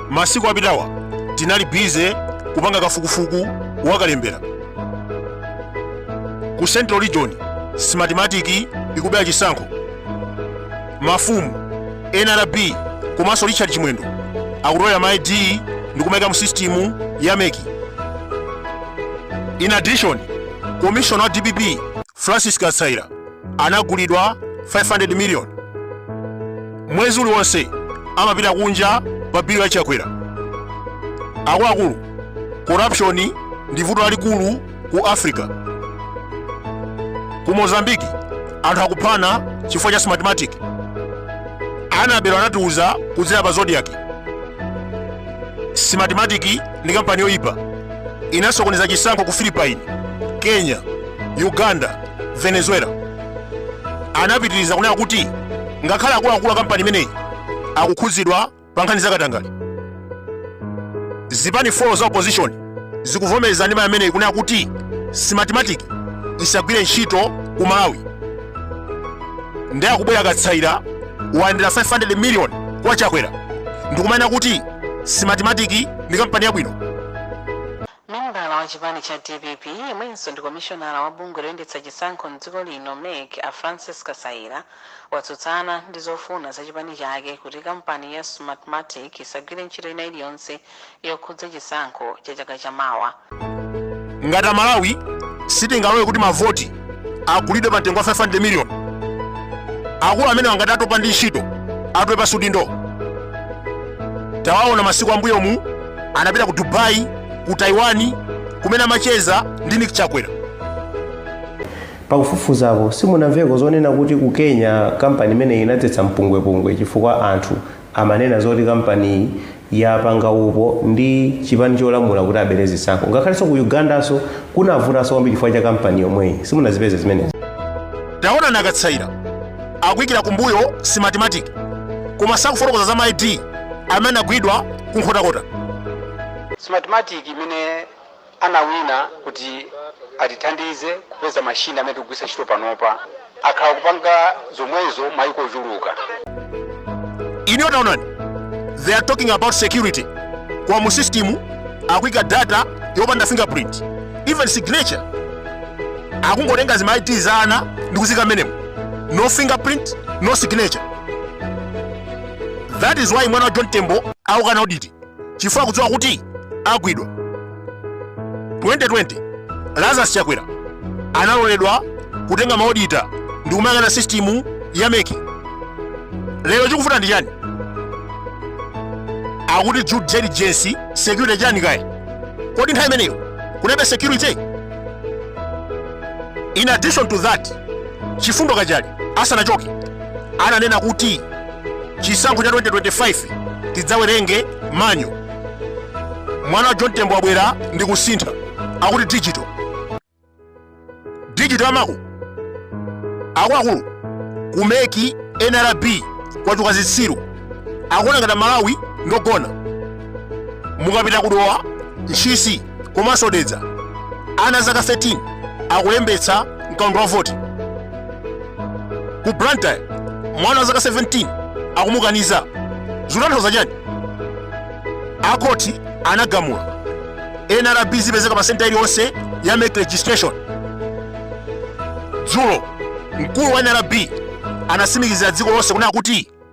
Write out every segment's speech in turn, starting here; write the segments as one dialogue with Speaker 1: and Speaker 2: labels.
Speaker 1: masiku apitawa tinali bize kupanga kafukufuku wakalembera ku central region smartmatic ikubera chisankho mafumu nrb komanso richard chimwendo akutolera ma id ndikumaika mu sistimu ya meki in addition commissioner wa dpp francis kasaila anagulidwa 500 million mwezi uliwonse amapita kunja pa bill ya chakwera akuluakulu corruption ndi vuto lalikulu ku africa ku mozambiki anthu akuphana chifukwa cha smartmatic anabelo anatiuza kudzera pa zodiak smartmatic ndi kampani yoyipa inasokoneza chisankho ku philippines kenya uganda venezuela anapitiriza kunena kuti ngakhale akuluakulu a kampani imeneyi akukhudzidwa pa nkhani zakatangale zipani 4 za opposition zikuvomereza ndima imeneyi kunena kuti smartmatic isagwire ntchito ku malawi ndiye akubwera kasaila walandira 500 million kwa chakwera ndikumanena kuti smartmatic ndi kampani yabwino
Speaker 2: Membala wa chipani cha dpp yemwenso ndi komishonala wa bungwe loyendetsa chisankho m'dziko lino, mec, a Francis Kasaila watsutsana ndi zofuna za chipani chake kuti kampani ya Smartmatic isagwire ntchito ina iliyonse yokhudza chisankho cha chaka cha mawa. Ngati
Speaker 1: a Malawi sitingalore kuti ma voti agulidwe pa mtengo wa 500 million akulu amenewa ngati atopa ndi ntchito atule pansi udindo tawaona masiku ambuyomu anapita ku dubai ku taiwan kumene amacheza ndi nick
Speaker 3: chakwera pakufufuzako simunamveko zonena kuti ku kenya kampani imeneyi inadzetsa mpungwepungwe chifukwa anthu amanena zoti kampaniyi yapanga upo ndi chipani cholamula kuti abere zisankho ngakhalenso ku ugandanso kunavutanso kwambiri chifukwa cha kampani yomweyi simunazipeze zimenezi
Speaker 1: taonani a kasaila akuyikira kumbuyo smartmatic koma sakufotokoza za maid amene agwidwa ku nkhotakota
Speaker 4: Smartmatic imene anawina kuti atithandize kupeza machine amene tikugwitsa ntchito panopa. Akhala akupanga zomwezo maiko ochuluka.
Speaker 1: Inuyo taonani, they are talking about security. Koma mu system akuika data yopanda fingerprint, even signature akungotenga zima ID za ana ndi kuziika mmenemo, no fingerprint, no signature. That is why mwana wa John Tembo akukana audit. chifukwa akudziwa kuti agwidwa 2020 lazarus chakwera analoledwa kutenga maodita ndi kumayang'ana sisitimu ya meki lero chikuvuta ndi chani akuti due diligence security chani kaye kodi nthawi imeneyo kunalibe security in addition to that chifundo kachali asanachoke ananena kuti chisankho cha 2025 tidzawerenge manual mwana wa john tembo abwera ndi kusintha akuti digital digital amako akuluakulu kumeki nrb kwachuluka zitsiru akuona ngati malawi ndogona mukapita kudowa ntchisi komanso dedza ana a zaka 13 akulembetsa mkaundula wa voti ku blantyre mwana wa zaka 17 akumukaniza zikutanthauza chani akhoti anagamula nrb zipezeka pa senta iliyonse ya meki registration dzulo mkulu wa nrb anatsimikizira dziko lonse kunena kuti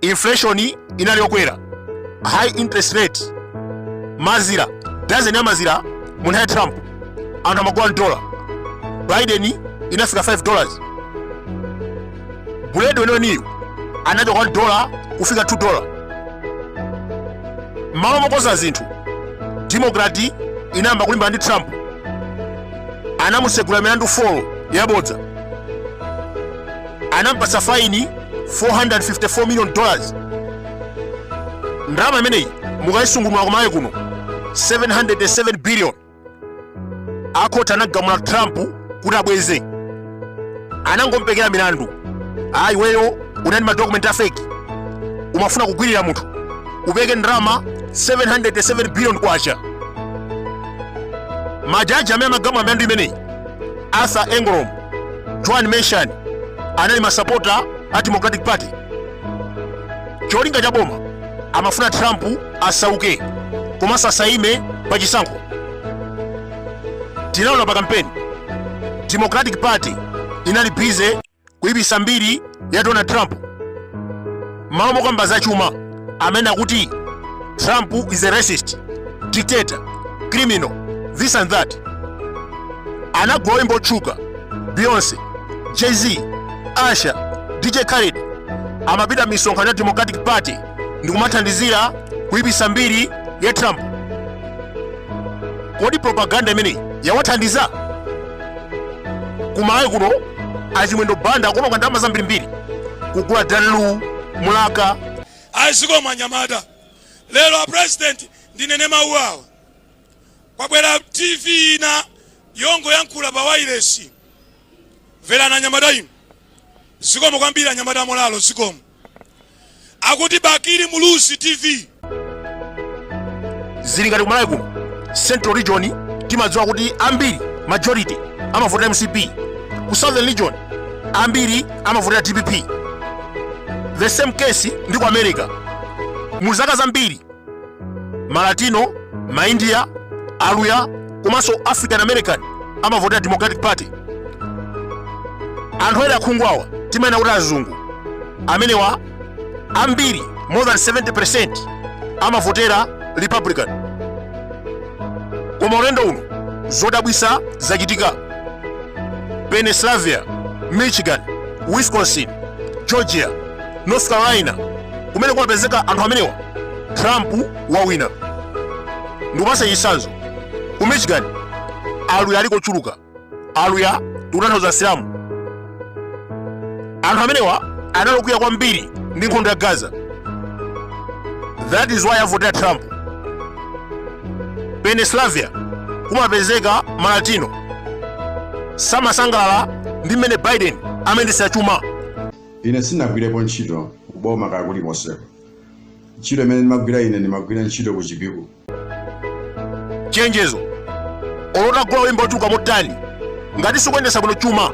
Speaker 1: inflation inali yokwera high interest rate mazira dazeni ya mazira mu nthawi ya trump anthu amagula 1 dola biden inafika 5 dollars buledi weniweniyo anachoka 1 dola kufika 2 dola mmalo mokonza zinthu demokrati inayamba kulimbana ndi trump anamutsegula milandu 4 yabodza anampatsa faini 454 million dollars ndalama imeneyi mukayisungunula kumayi kuno 707 billion akhoti anamgamula trump kuti abweze anangompekera milandu ayi weyo unali ndi madokumenti a fake umafuna kugwirira munthu upeke ndalama 707 billion kwacha majaji amene amagamula milandu imeneyi arthur engoron Juan Merchan anali masapota a Democratic Party. Cholinga cha boma amafuna Trump asauke komanso asaime pa chisankho. Tinaona pa kampeni Democratic Party inali bize kuipitsa mbiri ya donald trump m'malo mokamba za chuma amene akuti trump is a racist dictator criminal this and that anagula oyimba otchuka beyonce jay-z usher dj khaled amapita misonkhano ya democratic party ndi kumathandizira kuyipitsa mbiri ya trump kodi propaganda imeneyi yawathandiza kumayi kuno achimwendo banda akuononga ndalama zambirimbiri kugula dalu mulaka
Speaker 5: azikoma anyamata lero a president ndinene mawu awa kwabwera tv ina yongoyankhula pa wailesi mverani anyamata inu zikomo kwambiri anyamata amolalo zikomo akuti bakili muluzi tv
Speaker 1: zili ngati kumalawi kuno central region timadziwa kuti ambiri majority amavotera mcp ku southern region ambiri amavotera dpp the same case ndi ku america mu zaka zambiri malatino maindiya aluya komanso african american amavotera democratic party anthu ena akhunguwa timaena kuti azungu amenewa ambiri more than 70 amavotera republican koma ulendo uno zodabwisa zachitika pennsylvania michigan wisconsin georgia north carolina kumene kumapezeka anthu amenewa trump wawina ndikupasa chitsanzo ku michigan aluya aliko ochuluka aluya tikutanthauza asilamu anthu amenewa anali okwiya kwambiri ndi nkhondo ya gaza that is why avotera trump pennsylvania kumapezeka malatino samasangalala ndi mmene biden amayendetsera chuma
Speaker 6: ine sinagwirepo ntchito kuboma kaya kulikonseko ntchito imene ndimagwira ine ndimagwira ntchito ku chipiku chenjezo
Speaker 1: olo utagula oyimba otchuka motani ngati sikuyendesa bwino chuma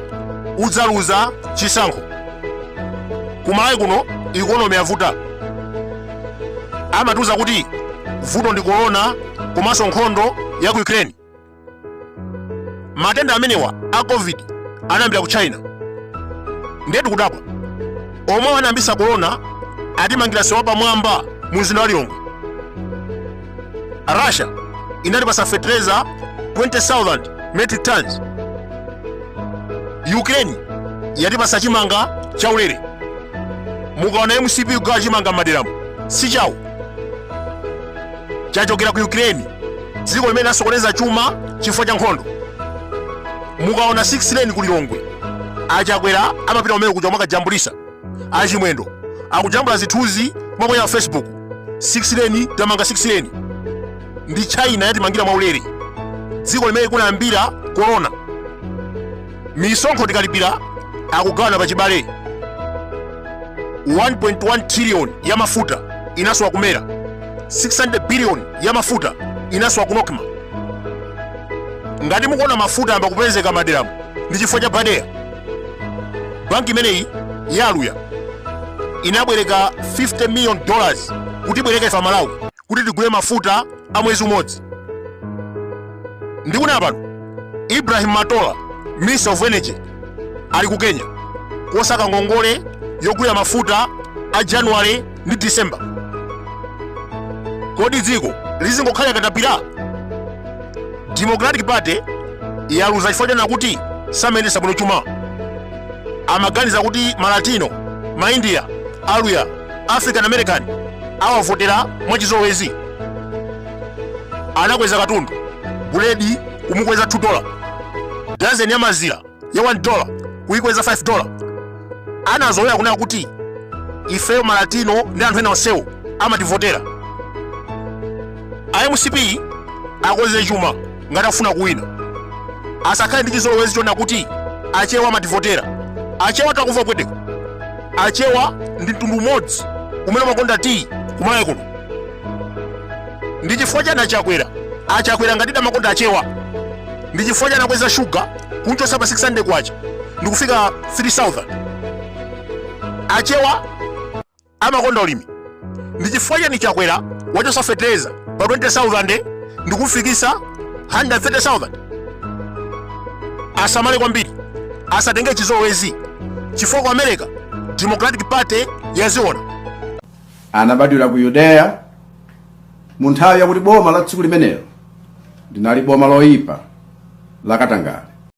Speaker 1: udzaluza chisankho kumalawi kuno ikonomi yavuta amatiuza kuti vuto ndi korona komanso nkhondo ya ku ukraine matenda amenewa a covid anayambira ku china ndetu kudabwa amene anayambisa korona atimangira msewu wa pamwamba mu mzinda wa lilongwe russia inatipasa fetereza 20000 metric tons ukraine yatipasa chimanga chaulere mukaona mcp kugawa chimanga m'maderamu si chawo chachokera ku ukraine dziko limene lasokoneza chuma chifukwa cha nkhondo mukaona 6 lane ku lilongwe achakwera amapita kumene kuja mwakajambulisa achimwendo akujambula zithunzi mwaponya pa facebook 6 lane tamanga 6 lane ndi china yatimangira mwaulere dziko limene kunayambira corona misonkho tikalipira akugawana pa chibale 1.1 trillion ya mafuta inasowa ku MERA 600 billion ya mafuta inasowa ku NOCMA ngati mukuona mafuta yamba kupezeka madera mu ndi chifukwa cha BADEA banki imeneyi yaluya inabwereka 50 million dollars kuti ibwereke ife amalawi kuti tigule mafuta a mwezi umodzi ndikunena pano ibrahim matola minister of energy ali ku kenya kosaka ngongole yogulira mafuta a january ndi december kodi dziko lizingokhalira akatapira democratic party yaluza chifukwa chonena kuti samayendesa bwino chuma amaganiza kuti malatino maindiya aluya african american awavotera mwachizolowezi anakweza katundu buledi kumukweza 2 dola dazeni ya mazira ya 1 dola kuyikweza 5 dola anazolowera kunena kuti ifeyo malatino ndi anthu ena onsewo amativotera a mcp akonze chuma ngati afuna kuwina asakhale ndi chizolowezi chonena kuti achewa amativotera achewa takuva pweteko achewa ndi mtundu umodzi umene umakonda tiyi kumalawi kuno ndi chifukwa chani a Chakwera a Chakwera ngatidi amakonda achewa ndi chifukwa chani akweza shuga kunchosa pa 600 kwacha ndikufika 3000 achewa amakonda ulimi ndichifukwa chani Chakwera wachosa fetereza pa 20000 ndikumfikisa 130000 asamale kwambiri asatenge chizolowezi chifukwa ku america democratic party
Speaker 6: yaziona anabadwira ku yudeya mu nthawi yakuti boma la tsiku limenelo linali boma loyipa lakatangale